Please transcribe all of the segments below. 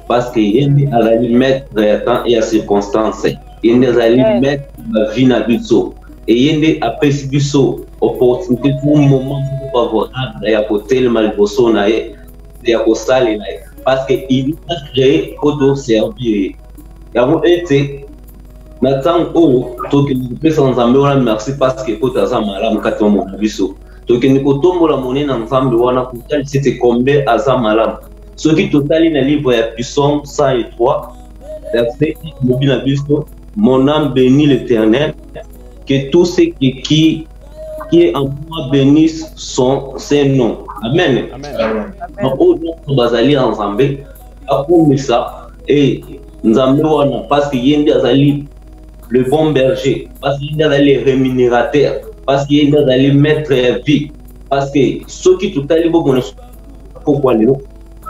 parce que ye nde azali maître ya temps et ya circonstance ye nde azali maître ya vie na biso eye nde apesi biso opportunité pour moment moko favorable ya kotelema liboso na ye ya kosalela ye parce que il a créé po toservir ye yango ete na ntango oyo tokende kopesa nzambe wana merci parce que poto aza malamu kati ya mona biso tokende kotombola monene ya nzambe wana kotalisa ete combien aza malamu soki totali na livre ya psaume 103 verset lobi na biso mon âme béni l'éternel que tout ce qui, qui, qui est en moi bénisse son saint nom amen baoyo nyonso bazali ya nzambe akumisa e nzambe wana parce que ye nde azali le bon berger parce que ye nde azali rémunérateur parce que ye nde azali maître ya vie parce que soki totali bomona pokwa lelo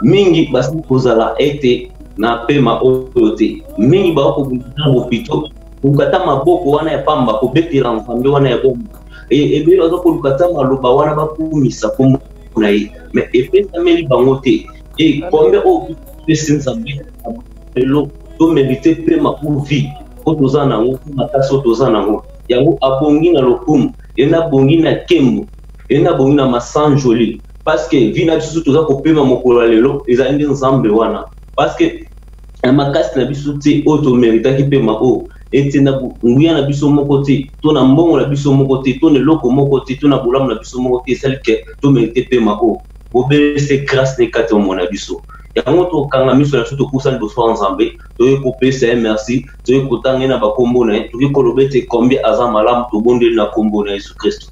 mingi basili kozala ete na pema oyo te mingi bakokobundana bopito koluka ata maboko wana ya pamba kobetela nzambe wana ya bomo e, ebele baza koluka ata maloba wana bakumisa kombo na ye me epesameli bango te ekombe oyo pesi nzambe lelo tomerite pema po vie po toza na yango makasi oyo toza na yango yango abongi na lokumu ye nabongi na kembo ye nabongi na masanjoli parce que vie na biso toza kopema mokolo ya lelo ezali nde nzambe wana parce que na makasi na biso te oyo tomeritaki mpema oyo ete na nguya na biso moko te to na mbongo na biso moko te to na eloko moko te to na bolamu na biso moko te esali ke tomerite mpema oyo bobele se grâce na ekati ya mona biso yango tokanga miso na biso tokusa liboso ya nzambe toyei kopesa ye merci toyei kotanga ye na bakombo na ye tokoki koloba ete combien aza malamu tobondeli na kombo na yesu kristo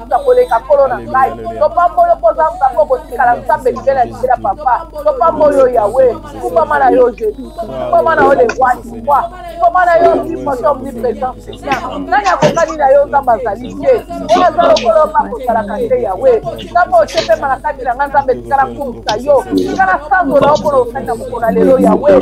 kokuta koleka nkolo na ngai topamboli mpoza nzambe okotikala nzambe libela libela papa topamboli yo yawe kumbama na yo jesu kumbama na yo lewani kwa kumbama na yo mimoto omnipresent seigneur nani akokani na yo nzambe azali te oyo aza lokolo nga kosalaka te yawe nzambe otepema na kati na ngai nzambe tikala kumisa yo tikala sango na yo mpo na okani na mokona lelo yawe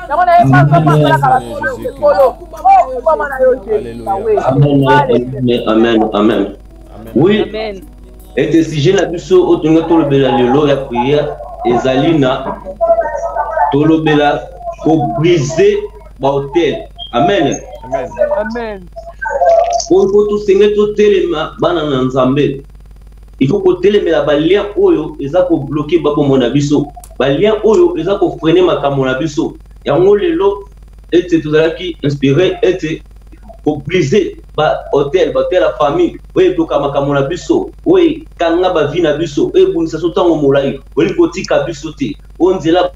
yango na ye bango basalaka basolo ekolo okubama na yo amen oui ete sujet na biso oyo tolingi tolobela lelo ya prière ezali na tolobela kobrise bahotel amen amen oyo mpo tosenge totelema bana na nzambe il faut kotelemela balien oyo eza kobloke babombo na biso balien oyo eza kofrene makambo na biso yango lelo ete tozalaki inspire ete kobrise bahotel bahotel ya famille oyo etoka makambo na biso oyo ekanga bavi na biso oyo ebundisa so ntango molai olingi kotika biso te oyo nzela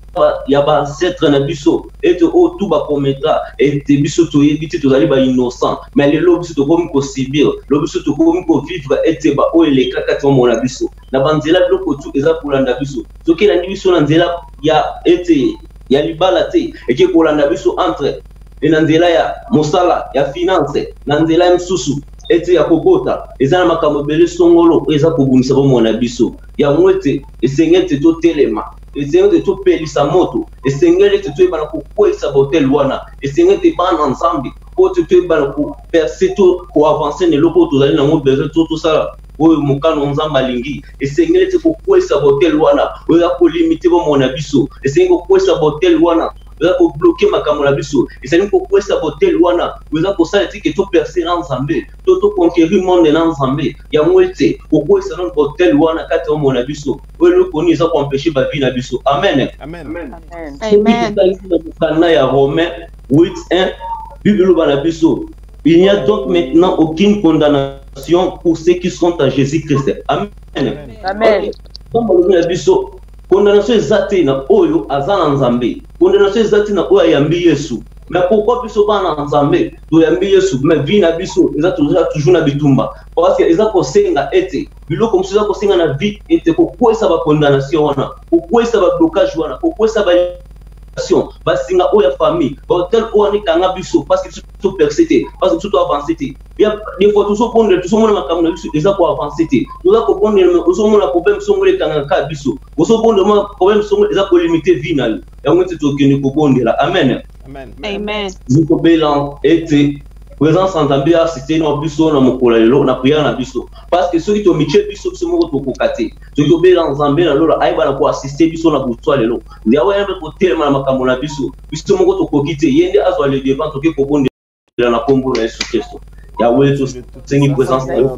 ya ba ancêtre na biso ete oyo oh, tu bakometa ete biso toyebi te tozali bainnocent mais lelo biso tokomi kosibir lelo biso tokomi kovivre ete baoyo elekaka ti omona biso na banzela biloko tu eza kolanda biso soki elandi biso na nzela ya ete ya libala te eke kolanda biso entre e na nzela ya mosala ya finance na nzela ya mosusu ete ya kobota eza na makambo ebele songolo oyo eza kobundisa bomoi na biso yango ete esenge ete totelema ezali ete topelisa moto esengeli ete toyebana kokweisa bahotel wana esengeli ete bana nzambe po te toyebana koperse to koavanse na eloko oyo tozali nango besoin to tosala oyo mokano nzambe alingi esengeli ete kokweisa bahotel wana oyo ya kolimite bomoi na biso esengeli kokweisa bahotel wana oza kobloke makambo na biso ezali kokwesa botel wana oza kosala etike toperse na nzambe to toconquerir monde na nzambe yango ete kokwesa nano botel wana kati ya bomoi na biso po eloko nini eza koempeshe bavi na biso amen sokitangi na mokanda ya romain 81 bible eloba na biso il n'y a donc maintenant aucune condamnation pour ceux qui sont à jésus christ amen ntango alobi na biso condamnation eza te na oyo aza na nzambe condamnation eza te na oyo ayambi yesu mais pourquoi biso bana na nzambe toyambi yesu mais vie na biso eza toza toujours na bitumba parce que eza kosenga ete biloko mosusu eza kosenga na vie ete kokwesa bacondamnation wana kokwesa bablocage wana kokwesa ba basinga oyo ya famille bahotel oyo wana ekanga biso parce biso toperce te parce biso toavance te des fois tozobondela tozomona makambo na biso eza koavance te toza kobondela me ozomona problème songolo ekangaka kaka biso ozobondela ma problème songolo eza kolimite vie na yo yango ete tokende kobondela amen amen tobela ete présence ya nzambe asiste na biso na mokolo ya lelo na priere na biso parce que soki tomitie biso biso moko tokoka te soki tobela nzambe na lola ayeba na koasiste biso na boswa lelo yawe ayambe kotelema na makambo na biso biso moko tokoki te ye nde azwa le devant toke kobondela na nkombo na yesu kristo yawe tosengi présence na yo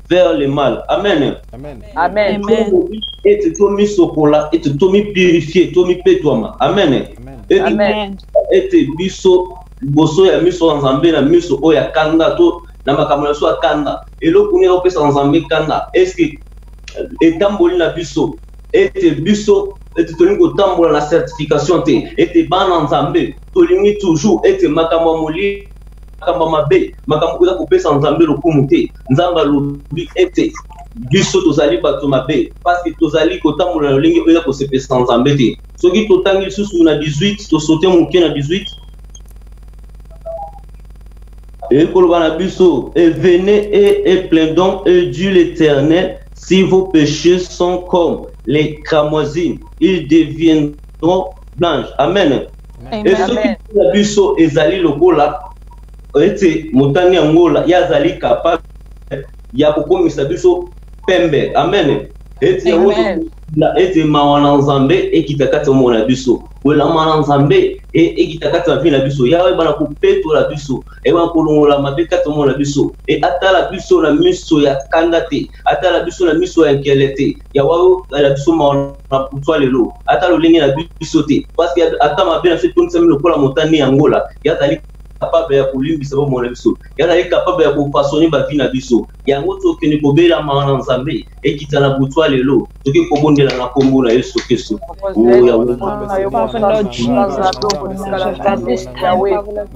vers le mal. Amen. Amen. Amen. Et tu dois mis au cola, et tu dois mis purifier, tu mis pétoima. Amen. Amen. Et tu biso, bosso ya miso en zambé, la miso o ya kanda, to, na makambo na so ya kanda. Et l'eau qu'on est au pesa en zambé kanda. Est-ce que, et tamboli na biso, et tu biso, et tu tolingi kotambola na certification te, et tu bana nzambe, tolingi toujours, et tu makambo molili, makambo ya mabe makambo ekoza kopesa nzambe lokumu te nzambe alobi ete biso tozali bato mabe parceke tozali kotambola na lolenge oyo ya kosepesa nzambe te soki totangi lisusu na 18 tosote moke na 18 et Kolobanabiso, et venez et, et plaidons, et Dieu l'éternel, si vos péchés sont comme les cramoisines, ils deviendront blanches. Amen. e soki na biso ezali lokola ete motani ya ngola ye azali capable ya kokomisa biso pembe amen ete yango ete mawa na nzambe ekita kati ya bomoi na biso kolama na nzambe e, ekita kati ya vie na biso yawe ebana kopetola biso ebana kolongola mabe kati ya bomoi na biso e atala biso na miso ya kanda te atala biso na miso ya nkele te ya wao ya biso maona kutwa lelo ata lolenge na biso te parceke ata mabe na biso etondisami lokola motane ya ngola ye azali capable ya kolimbisa bomoi na biso ye azali capable ya kopasone bavi na biso yango tokende kobela mawa na nzambe ekita na butwa lelo toki kobondela na nkombo na yesu kristo oyo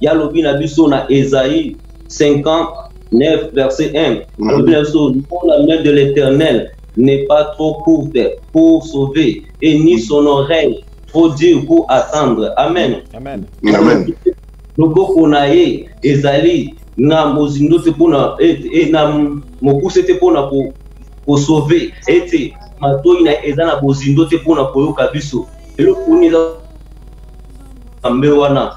ya lobi na biso na Esaïe 59 verset 1 mm. alobi na biso non la main de l'Éternel n'est pas trop courte pour sauver et ni son oreille trop dure pour attendre amen amen amen loboko na ye ezali na mozindo te mpona e, e, na mokuse te mpona kosauve ete matoi na eza na bozindo te mpona koyoka biso eloko nini eza kambe wana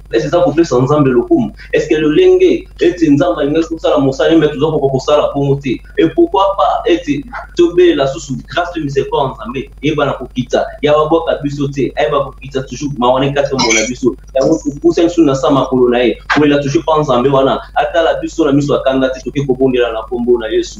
ese eza kopesa nzambe lokumu eske lolenge ete nzambe alingaki kosala mosala me toza koka kosala bongo te e pourkui pa ete tobelela susu grâce to misericord ya nzambe eyebana kokita ya babwaka biso te ayeba kokita toujours ma wana ekati yango na biso yango topusa biso na sa makolo na ye kolela toujours mpa nzambe wana atala biso na miso akanga te toke kobondela na nkombo na yesu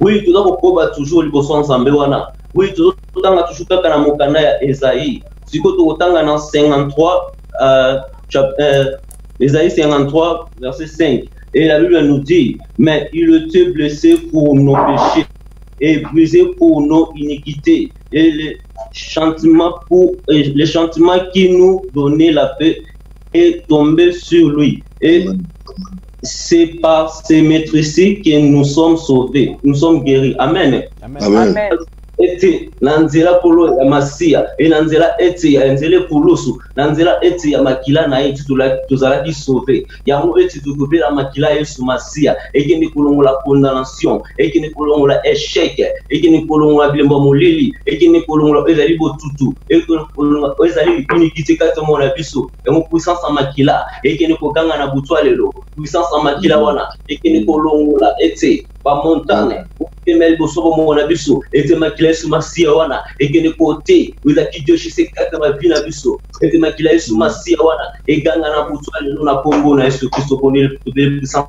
Oui, toza kokoba toujours liboso ya Nzambe wana. Oui, tozo tanga toujours kaka na mokanda ya Esaïe. Siko tokotanga na 53 euh, chap, euh, Esaïe 53 verset 5. Et la Bible nous dit, mais il était blessé pour nos péchés et brisé pour nos iniquités. Et les chantements, pour, et les chantements qui nous donnaient la paix est tombé sur lui. Et c'est par ces maîtrises que nous sommes sauvés, nous sommes guéris. Amen. Amen. Amen. Amen. ete na nzela kolo ya masiya e na nzela ete ya nzela ekulusu na nzela ete ya makila na ye tozalaki sauve yango ete tokobela makila ya yesu masiya ekende kolongola condamnation ekende kolongola echec ekende kolongola bilembo molili ekende kolongola ezali botutu ezali likuniki te kati ya mona biso yango puissance ya makila ekende koganga na butu ya lelo puissance ya makila wana ekende kolongola ete bamontane opema liboso bomoko na biso ete makila yesu masiya wana ekende kote ezalaki joshise kaka bavi na biso ete makila yesu masiya wana eganga na butu ya lelo na nkombo na yesu kristo poni puissance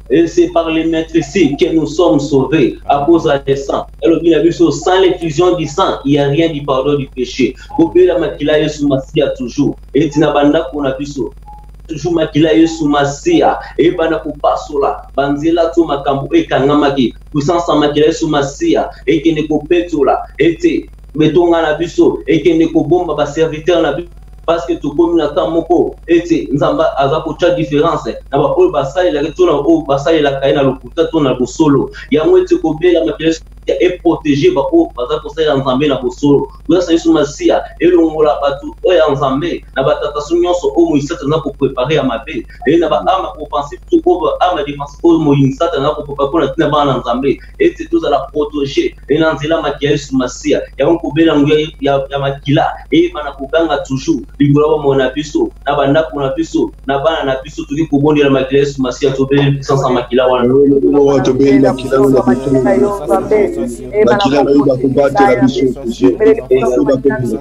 Et c'est par les maîtres ici que nous sommes sauvés à cause de sang. Alors, bien vu, sans l'effusion du sang, il n'y a rien du pardon du péché. Au pays, la makila est sous Massia toujours. Et Tinabanda qu'on a vu ça. toujours makila yesu masiya eyebana kopasola banzela to makambo ekangamaki puissance ya makila yesu masiya ekende kopetola ete betonga na biso ekende kobomba baserviteur na biso parce que tokomi na temps moko ete nzambe aza kotya différence na baoyo basalelaka to na oyo basalelaka ye na lokuta to na bosolo yango ete kobela makelesi ya eprotege baoyo baza kosalela nzambe na bosolo kozasa yesu masiya elongola bato oyo ya nzambe na batataso nyonso oyo moisata na koprepare ya mabe eye na baama opensive to oyo baama defense oyo moinsata na koprepa mpo na ntina bana na nzambe ete tozala protege e na nzela maki ya yesu masiya yango kobela yango ya, ya makila eyeba na koganga toujours likolo ya bomoi na biso na bandako na biso na bana na biso toki kobondela makila ya yesu masiya tobeli puissance ya makila wana tobeli makila wana makila na yo bakobatela biso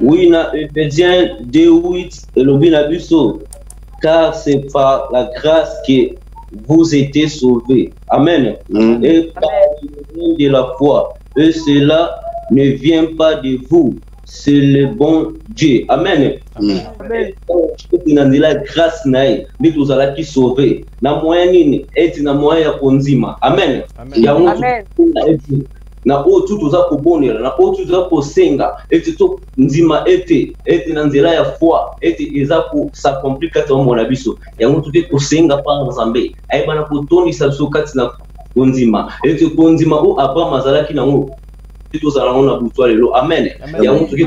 Oui, na Ephésiens 2.8 elobi na biso car c'est par la grâce que vous étiez sauvés. Amen. Mm. Et par le de la foi. Et cela ne vient pas de vous, c'est le bon Dieu. Amen. Amen. Amen. na nzela grâce na ye nde tozalaki sauve na moyen nini eti na moyen ya kondima amen yango na oyo tu toza kobonela na oyo tu toza kosenga ete tondima ete ete na nzela ya foi ete eza kosakompli kati ya bomona biso yango toke kosenga mpa nzambe ayebana kotondisa biso kati na kondima ete kondima oyo abraham azalaki nango tozala yango na butwa lelo amen yango toke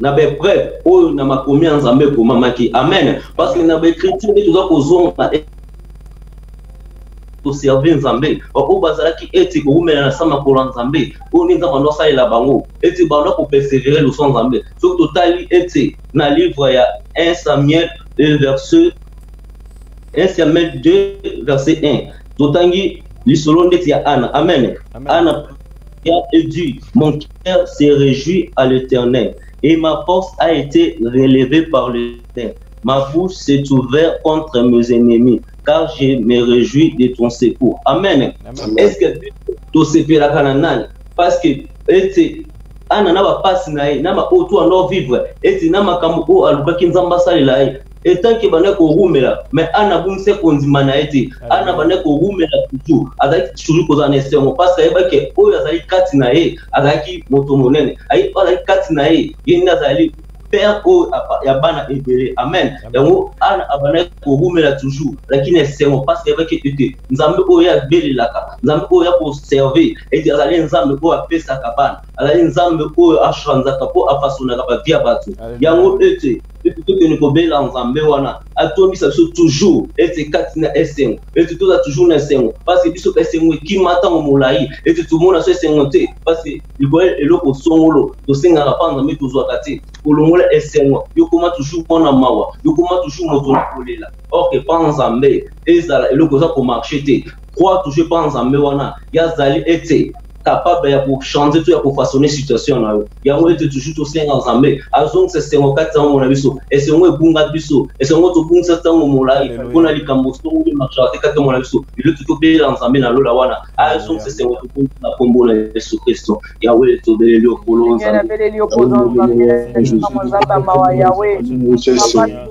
na baepreuve oyo na makomi ya nzambe ekomamaki amen parce que na baekriture nde toza kozonga toserve nzambe baoyo bazalaki ete kowumela na sa makolo ya nzambe oyo nde nzambe ando asalela bango ete banda kopersevere loso nzambe soki totali ete na livre ya 1 samuel verset 1 samuel 2 verset 1 totangi lisolo ndeti ya ana amen, amen. ana ya edu mon cœur se réjouit à l'Éternel, et ma force a été relevée par le Seigneur. Ma bouche s'est ouverte contre mes ennemis, car je me réjouis de ton secours. Amen. Amen. Est-ce que tosepelaka na nani? Parce que ete ana na bapasi na ye na baoyo to ando vivre ete na makambo oyo alukaki nzambe asalela ye etant ke banda korumela mais ana abungisa kondima na ye te ah, ana banda korumela tutu azalaki toujours kozala na esengo parce ayebaki oyo azali kati na ye azalaki moto monene ayebi oyo azali kati na ye ye nde azali père oyo ya bana ebele amen yango ana abandaki korumela toujours azalaki na esengo mpasi ayebaki ete nzambe oyo abelelaka nzambe oyo ya koserve ete azali nzambe oyo apesaka bana azali nzambe oyo achanzaka mpo afasonaka bavi ya bato yango ete ete tokende kobela nzambe wana atondisa biso toujours ete kati na esengo ete toza toujours na esengo parce biso esengo ekima ntango molai ete tomona so esengo te parce likolo eloko songolo tosengaka mpa nzambe tozwaka te kolongola esengo yokoma toujours mwana mawa yokoma toujours moto na kolela orke mpa nzambe ezala eloko eza komarche te crois toujours mpa nzambe wana yazali ete capable ya kochanger to ya kofaçonne situation na yo yango ete toujours tosenga nzambe azongisa esengo kati ya yango na biso esengo ebunga biso esengo tobungisa ntango molai mpo na likambo songo nde marchaka te kati mona biso liloki tobelela nzambe na lola wana azongisa esengo tobungi na nkombo na yesu kristo yawe tobeleli okolo nzambe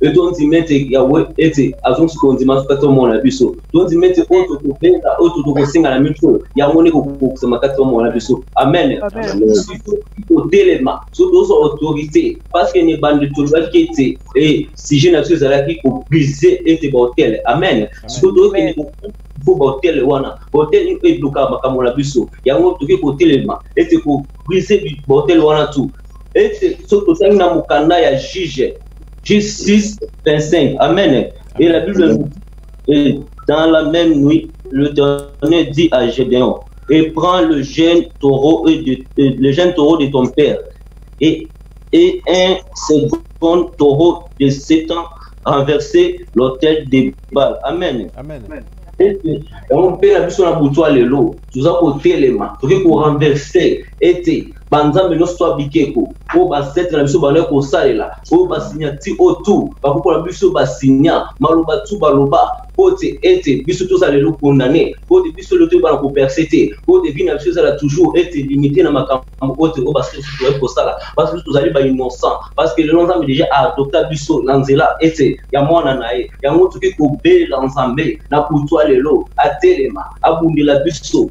mpe tondima ete yawe ete azongisi kondima soki tomona biso tondima ete oyo tokobenda oyo tokosenga na miso yango nde kokokisama kati tomona biso amen kotelema so tozwa autorité parce que ne bande tolobaki ete e sujet na biso ezalaki kobrise ete bahotel amen siko tokende mpo bahotel wana bahotel nini oyo eblokaka makambo na biso yango tokoki kotelema ete kobrise bahotel wana tu ete soki tosangi na mokanda ya juge 6, 25. Amen. Et la Bible nous dit, dans la même nuit, le Ternel dit à Gédéon, et prends le jeune taureau, de, le jeune taureau de ton père, et, et un second taureau de sept ans renverser l'hôtel des balles. Amen. Amen. Amen. ete yango mpe na biso na butu ya lelo toza kotelema tokoki korenverse ete banzambe nyonso ya bikeko oyo basetre na biso bandaki kosalela oyo basinyati oyo tu bakokola biso basinya maloba tu baloba mpo te ete biso tozala lelo kondane mpo te biso lelo toyebana koperse te mpo te vi na biso ezala toujours ete limite na makambo oyo te oyo basusu toyaki kosala basusu tozali bainnocent parce que lelo nzambe déjà aadopta biso na nzela ete ya mwana na ye yango toki kobelela nzambe na kutwa lelo atelema abundela biso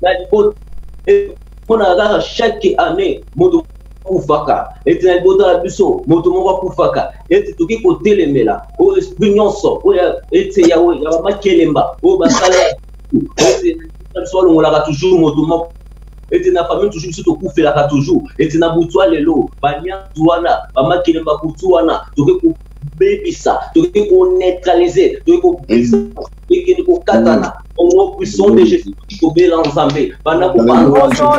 na libota mpo na kaka chaque année moto akufaka ete na libota na biso moto moko akufaka ete toki kotelemela oyo esprit nyonso oyo ete ya bamakelemba oyo basala ete na biso balongolaka toujours moto moko ete na famille toujours biso tokufelaka toujours ete na butu ya lelo banyanzi wana bamakelemba kutu wana toki kobebisa toki koneutralize toki kobebisa ekende kokatana au nom puissant de jésus christ kobela nzambe banda kobanza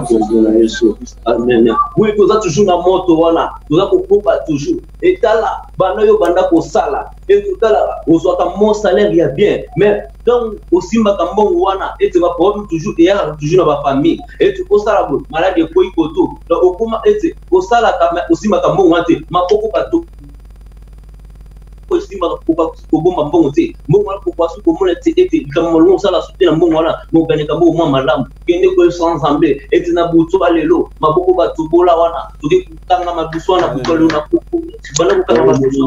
nkombo na yesu amen wi toza toujours na moto wana toza kokoba toujours etala banda yo banda kosala etotala ozwaka mo salaire ya bien mais donc osimbaka mbongo wana ete baproblème toujours eyaka toujours na bafamille ete osala boye maladi ekoyi koto donc okoma ete osalaka osimbaka mbongo wana te maboko bato osimba okoki kobomba mbongo te mbongo wana kokoasi komona te ete likambo malongo osala soki na mbongo wana mokaneka mbongo mwa malamu kende koyebisa nzambe ete na butu ya lelo maboko batobola wana toke kokanga madusu wana kokalo na koko banda kokanga madusu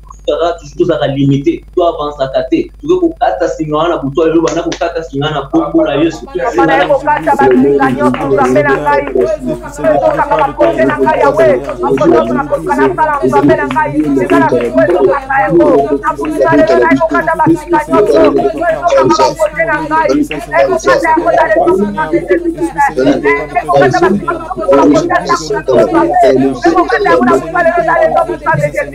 tozalaka toujours tozalaka limite to avansaka te toke kokata singa wana butu ya lelo banda kokata singa na kombo na yesu Thank you.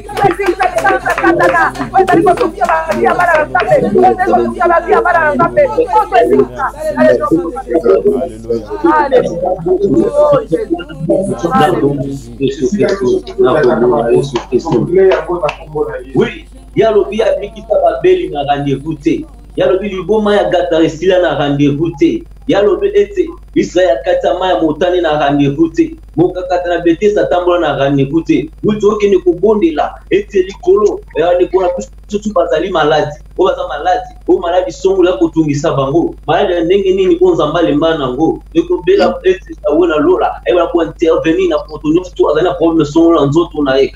Oui, ye alobi abikisa babeli na rendez-vous te ye alobi liboma ya gatara esila na rendez-vous te ye alobi ete israel akati ya mai ya motane na rendez-vous te mokakata na betese atambola na raniku te uti okende kobondela ete likolo raniku na biso bazali maladi oyo baza maladi oyo maladi songola ya kotungisa bango maladi ya ndenge nini oyo nzambe alemba na yango ekobela ete awe na lola ayebana kointervenir na moto nyonso to azali na probleme songola nzoto na ye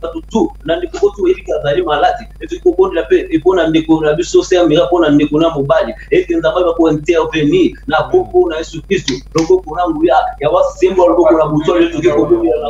bato tu na ndeko oyo toyebi kaka azali maladi etoki kobondela mpe epo na ndeko na biso sermira mpo na ndeko na mobali ete nzambe aza kointervenir na koko na yesu kristu loboko na nguya ya wasembo ya loboko na moto oyo toki kobondela na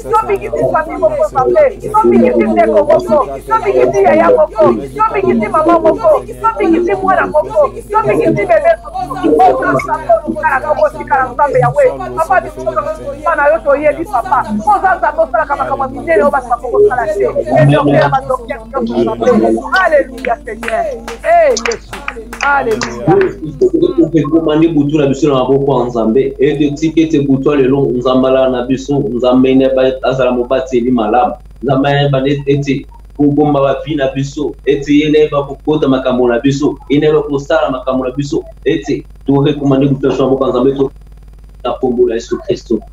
tobikisi fami moko pape tobikisi ndeko moko tobikisi yaya moko tobikisi mama moko tobikisi mwana moko tobikisi bebe oyosakotikala kokotikala nzambe yawe papa bisoaa na yo toyebi papa oza nzambe osalaka makambo minene oyo bato bakokosala te edokeya badokter nyonso aleluya Alléluia Seigneur. Eh Yesu. Alléluia. Ekoma nde butu na biso na maboko ya Nzambe. Ete tika ete butu ya lelo Nzambe alala na biso, Nzambe ne azala mobateli malamu. Nzambe ayeba ete kobomba bavi na biso ete ye nde ayeba kokota makambo na biso ye nde ayeba kosala makambo na biso ete torekomande butu na biso na maboko ya Nzambe to na nkombo na Yesu Kristo.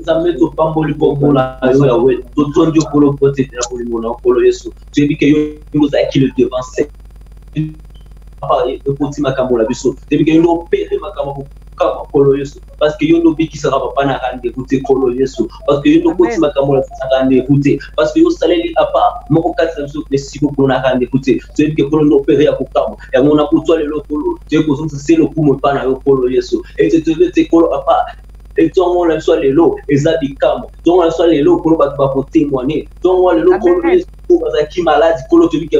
nzambe topamboli komona yo yawe totondi okolo pote na bolingo na okolo yesu toyebi ke yo ozalaki le devant ekoti makambo na biso depuis que yo nde opere makambo kaka makolo yesu parce que yo nde obikisaka papa na rendez-vous te kolo yesu parce que yo nde okoti makambo na biso na rendez-vous te parce que yo osaleli apa moko kati na biso esiko kolo na rendez-vous te toyebi ke kolo nde opere ya kokamwa yango na kutwa lelo kolo toyebi kozongisa se lokumu epa na yo kolo yesu ete toyebi ete kolo apa ntongo na biso ya lelo eza bikamwa ntongo na biso ya lelo kolo bato bakotemwane ntongo ya lelo kolo yesu bazalaki maladi kolo tobike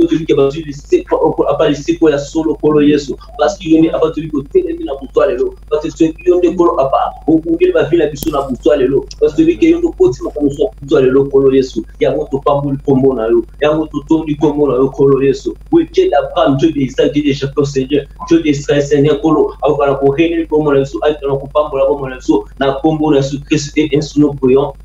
tobike bazwi liseko apa liseko ya solo kolo yesu parceke yo nde apa tobi kotelemi na butwa lelo parceke yo nde kolo apa okungeli bavi na biso na butwa lelo parce tobike yo nde okoti makambo ya butwa lelo kolo yesu yango topamboli nkombo na yo yango totondi nkombo na yo kolo yesu weke d'abraham dieu de isaac dieu de jacob seigneur dieu de israel seigneur kolo akokana koreneli nkombo na biso akokana kopambola bombo na biso na nkombo na yesu kristu e ensu no prions